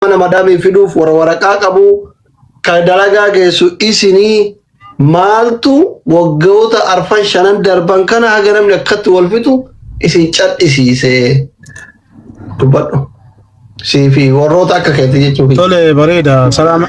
mana madaamii fiduuf warra waraqaa qabu kan dalagaa geessu isinii maaltu waggoota arfan shanan darban kana haga namni akkatti wal fixu isin cadhisiisee dubbadhu. Siifi warroota akka keetti jechuudha. Tole bareeda. Salaama.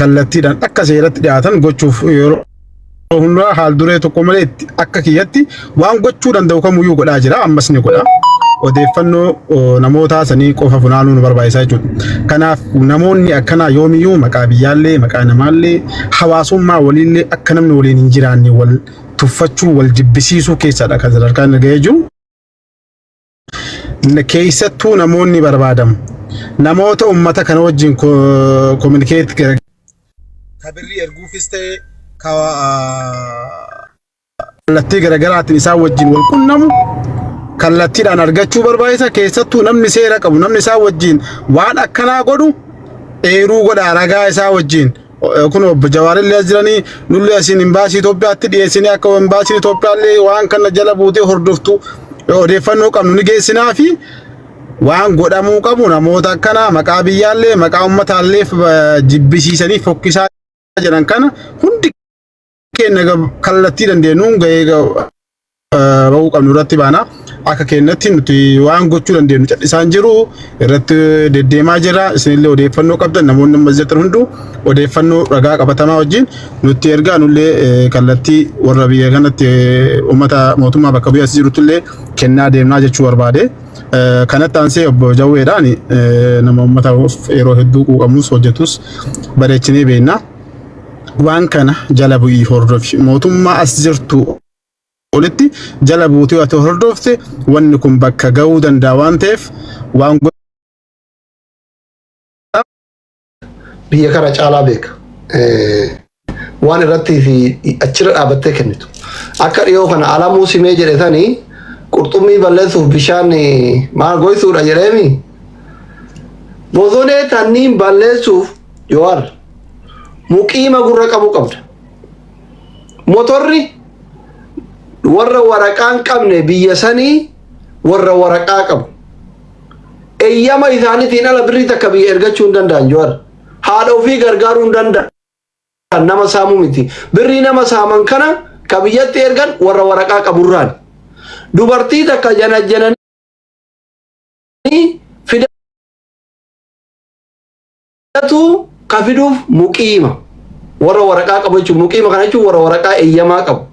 kallattiidhaan akka seeratti dhiyaatan gochuuf yeroo hundaa haal duree tokko malee itti akka kiyyatti waan gochuu danda'u kamuyyuu godhaa jira ammas ni godha. Odeeffannoo namootaa sanii qofa funaanuu nu barbaachisa jechuudha. Kanaaf namoonni akkanaa yoomiyyuu maqaa biyyaallee maqaa namaallee hawaasummaa waliillee akka namni waliin hin jiraanne wal tuffachuu wal jibbisiisuu keessadha kan sadarkaan ga'ee jiru. keessattuu namoonni barbaadamu namoota ummata kana wajjin kominikeet ka birrii erguufis ta'e ka kallattii garaagaraatiin isaan wajjin wal qunnamu kallattiidhaan argachuu barbaachisa keessattuu namni seera qabu namni isaan wajjin waan akkanaa godhu eeruu godha ragaa isaa wajjin kun obbo Jawaarillee as jiranii nullee asiin imbaasii Itoophiyaatti dhiyeessinee akka imbaasiin Itoophiyaallee waan kana jala buutee hordoftu odeeffannoo qabnu ni geessinaa fi waan godhamuu qabu namoota akkanaa maqaa biyyaallee maqaa ummataallee jibbisiisanii fokkisaa jiran kana hundi Keenya kallattii dandeenyuun gahee bahuu qabnu irratti baana. Akka keenyatti nuti waan gochuu dandeenyu callisaan jiru irratti deddeemaa jira. Isinillee odeeffannoo qabdan namoonni ammas jettan hunduu odeeffannoo ragaa qabatamaa wajjin nutti ergaa nullee kallattii warra biyya kanatti uummata mootummaa bakka bu'ee as jirutti illee kennaa deemnaa jechuu barbaade. Kanatti aansee obbo Jawweedhaan nama uummata yeroo hedduu quuqamus hojjetus bareechinee beekna. waan kana jala bu'ii hordofi mootummaa as jirtu olitti jala buutee ati hordofte wanni kun bakka ga'uu danda'a waan ta'eef waan biyya kana caalaa beeka. Waan irratti fi achirra dhaabattee kennitu. Akka dhiyoo kana alamuu simee jedhe sanii qurxummii balleessuuf bishaan maal goysuudha jedheemi. Bosonee tanniin balleessuuf Yowaar muqiima gurra qabu qabda. Motorri warra waraqaa hin qabne biyya sanii warra waraqaa qabu. Eeyyama isaaniitiin ala birrii takka biyya ergachuu hin danda'an Yowaar. Haadha ofii gargaaruu hin danda'an. Nama saamuu miti. Birrii nama saaman kana ka biyyatti ergan warra waraqaa qaburraan. Dubartii takka janajjananii fidan. Kanatu ka fiduuf muqiima. Warra waraqaa qabu jechuun muqiima kana jechuun warra waraqaa eeyyamaa qabu.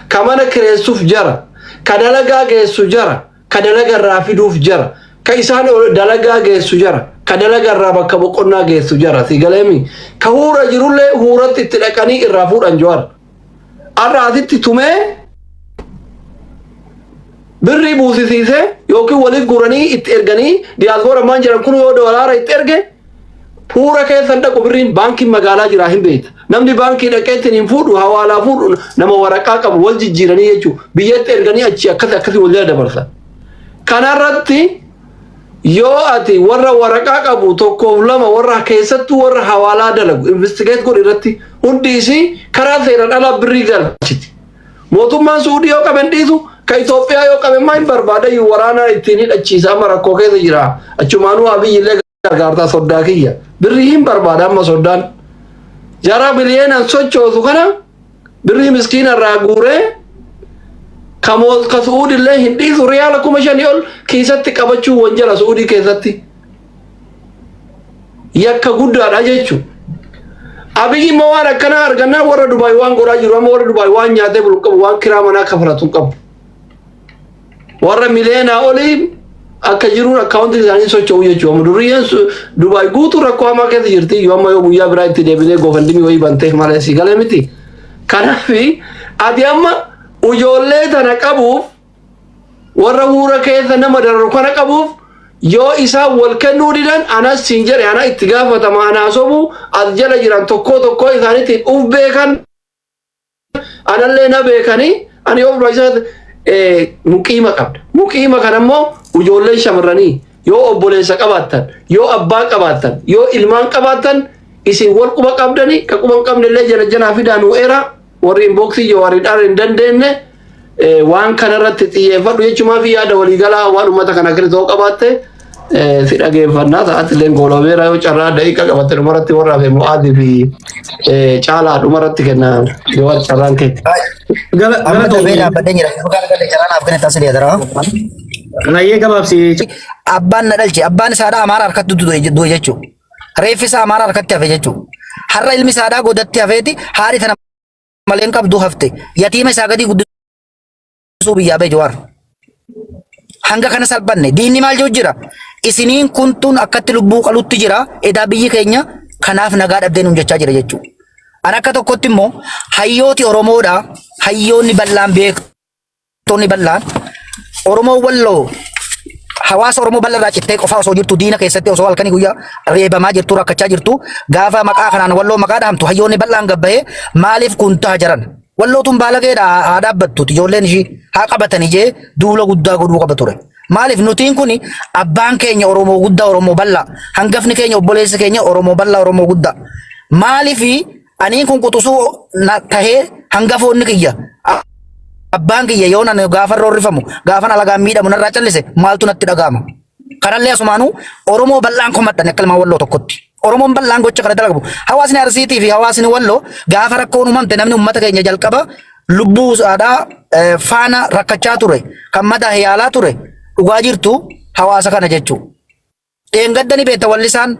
Ka mana kireessuuf jara. Ka dalagaa geessu jara. Ka dalaga irraa fiduuf jara. Ka isaan ol- dalagaa geessu jara. Ka dalaga irraa bakka boqonnaa geessu jara. Si galeemi. Ka huura jirullee huuratti itti dhaqanii irraa fuudhan Jawaar. har'a asitti tumee birrii buusisiisee yookiin waliif guuranii itti erganii diyaaspoora maan jiran kun yoo doolaara itti erge fuura keessan dhaqu birriin baankiin magaalaa jiraa hin beekta. Namni baankii dhaqeettiin hin fuudhu hawaalaa fuudhu nama waraqaa qabu wal jijjiiranii jechuudha. Biyyatti erganii achi akkasii akkasii wal jala dabarsa. Kanarratti yoo ati warra waraqaa qabu tokkoof lama warra keessattuu warra hawaalaa dalagu investigeet godhi irratti hundi isii karaa seeraan alaa birrii galchiti. Mootummaan Suudii yoo qaben dhiisu ka Itoophiyaa yoo qaben maa hin barbaadayyuu waraanaa ittiin hidhachiisa amma rakkoo keessa jira. Achumaanuu Abiyyillee gargaartaa soddaa kiyya. Birrii hin barbaada amma soddaan. Jaraa biliyeenaan sochoosu kana birrii miskiina irraa guuree ka moolka su'uudillee hin dhiisu riyaala kuma shanii ol kiisatti qabachuun wanjala su'uudii keessatti yakka guddaadha jechuun. Abiyyi immoo waan akkanaa argannaan warra Dubaay waan godhaa jiru amma warra Dubaay waan nyaatee bulu qabu waan kiraa manaa kafalatu hin qabu. warra miliyoonaa oliin akka jiruun akkaawuntiin isaanii socho'u jechuudha. Amma durriyyeen su- Dubaay guutuu rakkoo hamaa keessa jirti. Yoo amma yoo guyyaa biraa itti deebinee goofandimii wayii bantee malee si galee miti. Kanaaf ati amma ijoollee tana qabuuf warra huura keessa nama dararu kana qabuuf yoo isaan wal kennuu didan anas siin jedhe ana itti gaafatama anaa sobu as jala jiran tokkoo tokkoo isaaniitiin uf beekan anallee na beekanii ani ofuma isaa muqiima qabda. Muqiima kana immoo ijoolleen shamarranii yoo obboleessa qabaattan, yoo abbaa qabaattan, yoo ilmaan qabaattan isin wal quba qabdanii ka quba hin qabne illee jala jalaa fidaa nuu eeraa warri inboksii jawaariidhaan hin dandeenye Waan kana irratti xiyyeeffadhu jechumaa fi yaada waliigalaa waan uummata kana keessa ta'uu qabaatte si dhageeffannaa sa'aatti illee goolabeera yoo carraa daqiiqa qabatte dhumarratti warra hafe mo'aatii fi caalaa dhumarratti kenna yoo carraan kee. Amma darbee dhaabbatee jira. Dhugaa dhugaa carraa naaf kenna taasisa jedhara. Rayyee gabaabsi. Abbaan na dhalche abbaan isaadhaa amaara harkatti du'e jechuudha. Reeffi isaa amaara harkatti hafe jechuudha. Har'a ilmi isaadhaa godatti hafeeti haadhi tana maleen qabdu hafte yatiima isaa gadii guddisuu biyyaa bee jawaar. Hanga kana salphanne diinni maal jiru jira isiniin kuntuun akkatti lubbuu qalutti jira edaa biyyi keenya kanaaf nagaa dhabdee nuun jechaa jira jechuudha. An akka tokkotti immoo hayyooti Oromoodha hayyoonni bal'aan beektu. Tonni bal'aan Oromoo Walloo hawaasa Oromoo bal'aa irraa cittee qofaa osoo jirtu diina keessatti osoo halkanii guyyaa reebamaa jirtu rakkachaa jirtu gaafa maqaa kanaan Walloo maqaa dhahamtu hayyoonni bal'aan gabbahee maaliif kun ta'a jiran. Wallootuun baalageedha haa dhaabbattu ijoolleen ishii haa qabatan ijee duula guddaa godhuu qaba ture. Maaliif nutiin kun abbaan keenya Oromoo guddaa Oromoo bal'aa hangafni keenya obboleessi keenya Oromoo bal'aa Oromoo guddaa maaliif Aniin kun quxusuu na tahee hangafoonni kiyya a- abbaan kiyya yoo nan gaafan roorrifamu gaafan alagaan miidhamu narraa callise maaltu natti dhaga'ama. Kanallee asumaanuu Oromoo bal'aan komadhan akka ilmaan walloo tokkotti. Oromoon bal'aan gocha kana dalagu. Hawaasni Arsiitii fi hawaasni walloo gaafa rakkoon uumamte namni uummata keenya jalqaba lubbuu isaadhaa eh, faana rakkachaa ture kan madaa yaalaa ture dhugaa jirtu hawaasa kana jechuudha. Dheengadda ni beekta wallisaan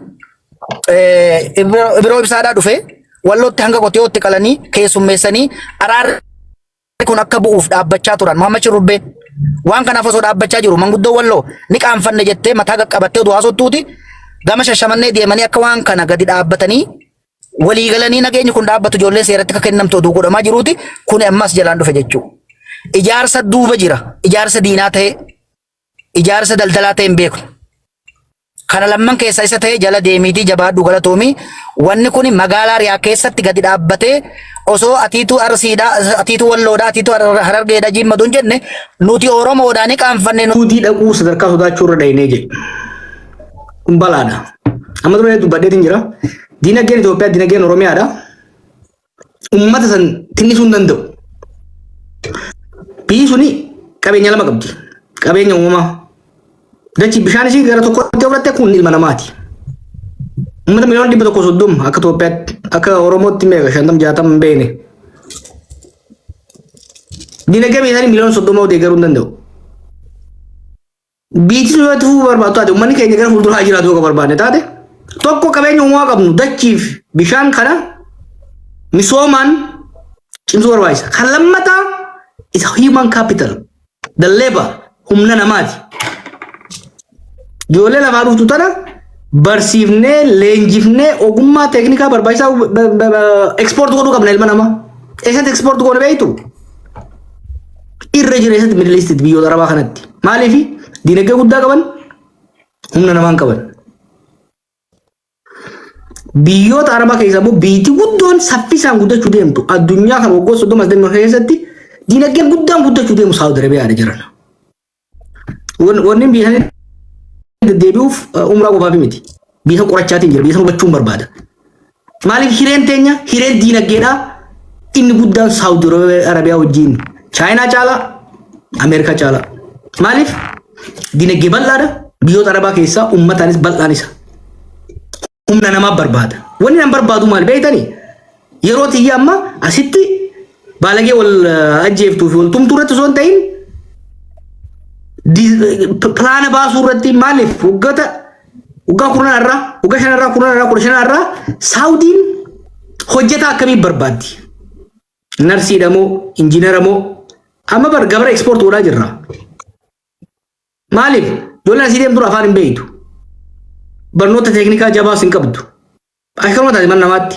eh, Ibro- Ibiroo Ibsaadhaa dhufe wallootti hanga qotiyootti qalanii keessummeessanii araarri kun akka bu'uuf dhaabbachaa turan Muhammad Shurrubbee waan kanaaf osoo dhaabbachaa jiru manguddoo walloo ni qaanfanne jettee mataa qaqqabattee oduu haasoftuuti gama shashamannee deemanii akka waan kana gadi dhaabbatanii walii galanii nageenyi kun dhaabbatu ijoolleen seeratti akka kennamtu oduu godhamaa jiruuti kun ammas jalaan dhufe jechuudha. Ijaarsa duuba jira ijaarsa diinaa ta'e ijaarsa daldalaa ta'e hin beeknu. Kana lamman keessaa isa ta'e jala deemiitii jabaadhu galatoomi. Wanni kun magaalaa Riyaa keessatti gadi dhaabbatee osoo atiituu Arsiidha, atiituu Walloodha, atiituu Har- Harargeedha jiimmatu hin jenne nuti Oromoodha ni qaanfanne nu Suudii dhaquu sadarkaa sodaachuu irra dhahinee jedhe. Kun balaadha. Amma dura dubbadheetiin jira. Diinagdeen Itoophiyaa diinagdeen Oromiyaadha. ummata san tinnisuu hin danda'u. Biyyi suni qabeenya lama qabdi. Qabeenya uumamaa. Dachi bishaan ishii gara tokkotti oflatte kun ilma namaati. Uummata miliyoona dhibba tokko soddoma akka Itoophiyaatti akka Oromootti meeqa shantam jaatam hin beekne. Dinagdee biyya isaanii miliyoona soddoma deeggaruu hin danda'u. Biitni yoo tufuu barbaadu taate uummanni keenya gara fuulduraa haa jiraatu yoo ka barbaadne taate tokko qabeenya uumamaa qabnu dachiif bishaan kana misoomaan cimsuu barbaachisa. Kan lammataa isa human capital the labor humna namaati. Ijoollee lafaa dhuftu tana barsiifnee leenjifnee ogummaa teeknikaa barbaachisaa ekspoort godhuu qabna ilma namaa. Eessatti ekspoort goone beektu? irra jireessatti Middle East biyyoota Arabaa kanatti. Maaliif diinagdee guddaa qaban humna namaan qaban. Biyyoota Arabaa keessaa immoo biyyi guddoon saffisaan guddachuu deemtu addunyaa kan waggoota soddoma as deemu keessatti diinagdee guddaan guddachuu deemu Saawud Arabiyaadha jiran. Wan- Wanni biyya sana deddeebi'uuf eh, umraa qofaaf miti. Biyya qorachaatiin jira, biyya sana hubachuun barbaada. Maaliif hireen teenya hireen diinagdeedhaa inni guddaan Saawudi Arabiyaa wajjin Chaayinaa caalaa Ameerikaa caalaa. Maaliif diinagdee bal'aadha biyyoota Arabaa keessaa ummataanis bal'aan isa. humna namaa barbaada. Wanni nan barbaadu maal beektanii? Yeroo tiyya amma asitti baalagee wal eh, ajjeeftuu fi wal tumtuu irratti osoo hin ta'in di- p- pilaana baasuu irratti maaliif waggoota waggaa kurnan irraa waggaa shan irraa kurnan irraa kudha shan irraa saawudiin hojjetaa akkamii barbaaddi? Narsiidha moo injiinara moo amma bar gabara ekspoort godhaa jirra. Maaliif ijoolleen asii deemtu afaan hin beektu. Barnoota teeknikaa jabaas hin qabdu. Akkanuma taate mana namaatti.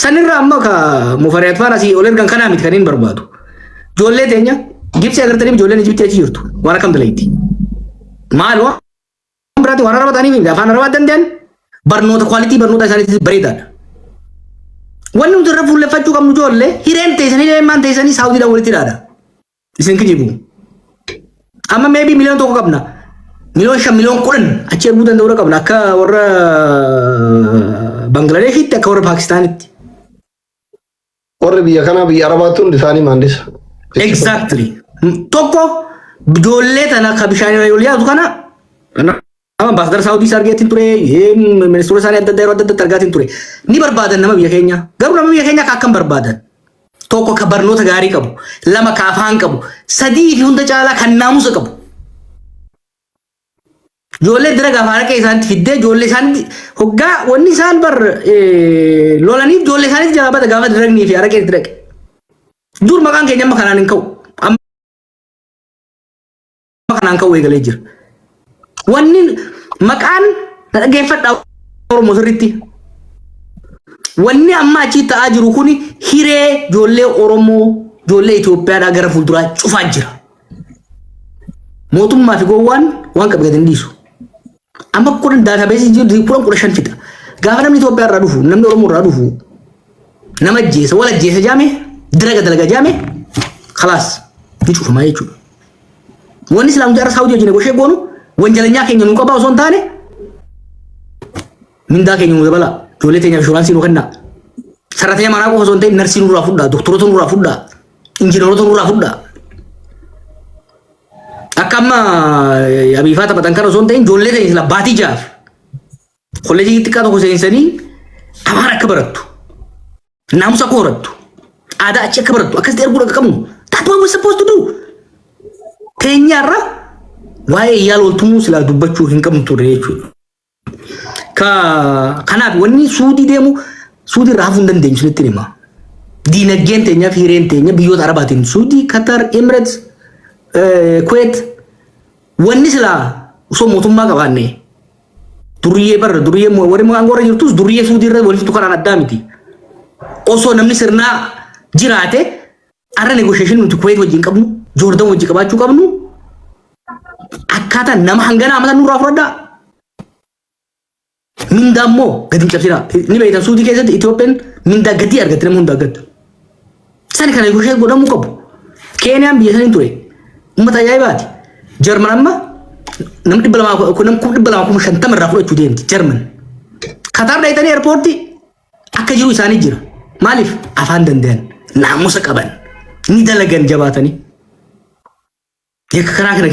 Sanirra amma ka mufariyaat faana asii ol ergan kanaa miti kan hin barbaadu. Ijoollee teenya Gibsii agartaniif ijoolleen Ijibtii achi jirtu. Waan akkam dalayti. Maal waan biraatti waan araba ta'aniif afaan arabaa danda'an barnoota kwaalitii barnoota isaaniitti bareedaadha. Wanni nuti irra fuulleffachuu qabnu ijoollee hireen teessanii hireen maan teessanii saawudiidhaan walitti dhaadha. Isin kijibu. Amma maybe miliyoon tokko qabna. Miliyoon shan miliyoon kudhan achi erguu danda'uu qabna akka warra Bangladeeshitti akka warra Paakistaanitti. Warri biyya kanaa biyya Arabaatti hundi isaanii maandisa. Exactly. Tokko ijoollee tana ka bishaan irra yoo yaadu kana Amma ambaasadara Saawudiis argeetiin ture, eh, ministeerota isaanii adda addaa yeroo adda addaatti argaatiin ture. Ni barbaadan nama biyya keenyaa. Garuu nama biyya keenyaa ka akkam barbaadan? Tokko ka barnoota gaarii qabu, lama ka afaan qabu, sadii fi hunda caalaa kan naamusa qabu. Ijoollee dira gaafa haraqee isaanitti fiddee ijoollee isaanitti hoggaa wanni isaan bar eh, lolaniif ijoollee isaanitti jalaa bada gaafa diragnii fi haraqee itti dhaqe. Dur maqaan keenya amma kanaan hin ka'u. kanaan ka'uu eegalee jira. Wanni maqaan dhaggeeffadhaa Oromoo sirriitti. Wanni amma achii ta'aa jiru kun hiree ijoollee Oromoo ijoollee Itoophiyaadhaa gara fuulduraa cufaa jira. Mootummaa fi gowwaan waan qabu gadi hin dhiisu. Amma kudhan daatabeesii jiru kudhan kudha shan fixa. Gaafa namni Itoophiyaa irraa dhufu namni Oromoo irraa dhufu nama ajjeesa wal ajjeesa jaame dalaga dalaga jaame kalaas ni cufamaa jechuudha. Wanni islaam jaarra saawutii wajjin goshee goonu wanjalanyaa keenya nuu qabaa osoo hin taane Mindaa keenya nuu dabalaa. Ijoollee teenyaaf inshuraansii nuu kennaa. Sarratanya manaa qofa osoo hin ta'in narsii nurraa fudhaa, doktorota nurraa fudhaa, injiinaroota nurraa fudhaa. Akka amma eh, abiifaa taphatan kana osoo hin ta'in ijoollee teenya sila baatii jaaf. Kolleejii xiqqaa tokko seensanii afaan akka barattu, naamusa akka horattu, aadaa achi akka barattu akkasitti erguu akka qabnu. That's what we're supposed to do. Teenyaarra waa'ee yaala oltumuu silaa dubbachuu hin qabnu turre jechuudha. Ka- Kanaaf wanni suudii deemu suudii irraa hafuu hin dandeenyu isinitti hima. Diinagdeen teenya fi hireen teenya biyyoota arabaatiin suudii, Katar, Emirates, eh, Kuwait wanni silaa osoo mootummaa qabaanne duriyyee barra duriyyee mo- warri aangoo irra jirtus duriyyee suudii irra walitti tukaraan addaa miti. Osoo namni sirnaa jiraate Arra negotiation nuti Kuwait wajjin qabnu, Jordan wajjin qabaachuu qabnu akkaataa nama hangana amala nurraa fudhadhaa. Mindaa immoo gadi hin cabsinaa. Ni beektan suutii keessatti Itoophiyaan mindaa gadii argatti nama hundaa gadda. Sani kana negotiate godhamuu qabu. Keeniyaan biyya sanii ture. Uummata ajaa'ibaati. Jarman amma nam dhibba lamaa kun nam kuma dhibba lamaa kuma shantama irraa fudhachuu deemti Jarman. Kataar dhayitanii eerpoortii Akka jiru isaanii jira. Maaliif afaan danda'an naamusa qaban ni dalagan jabaatanii. Yakka karaa kana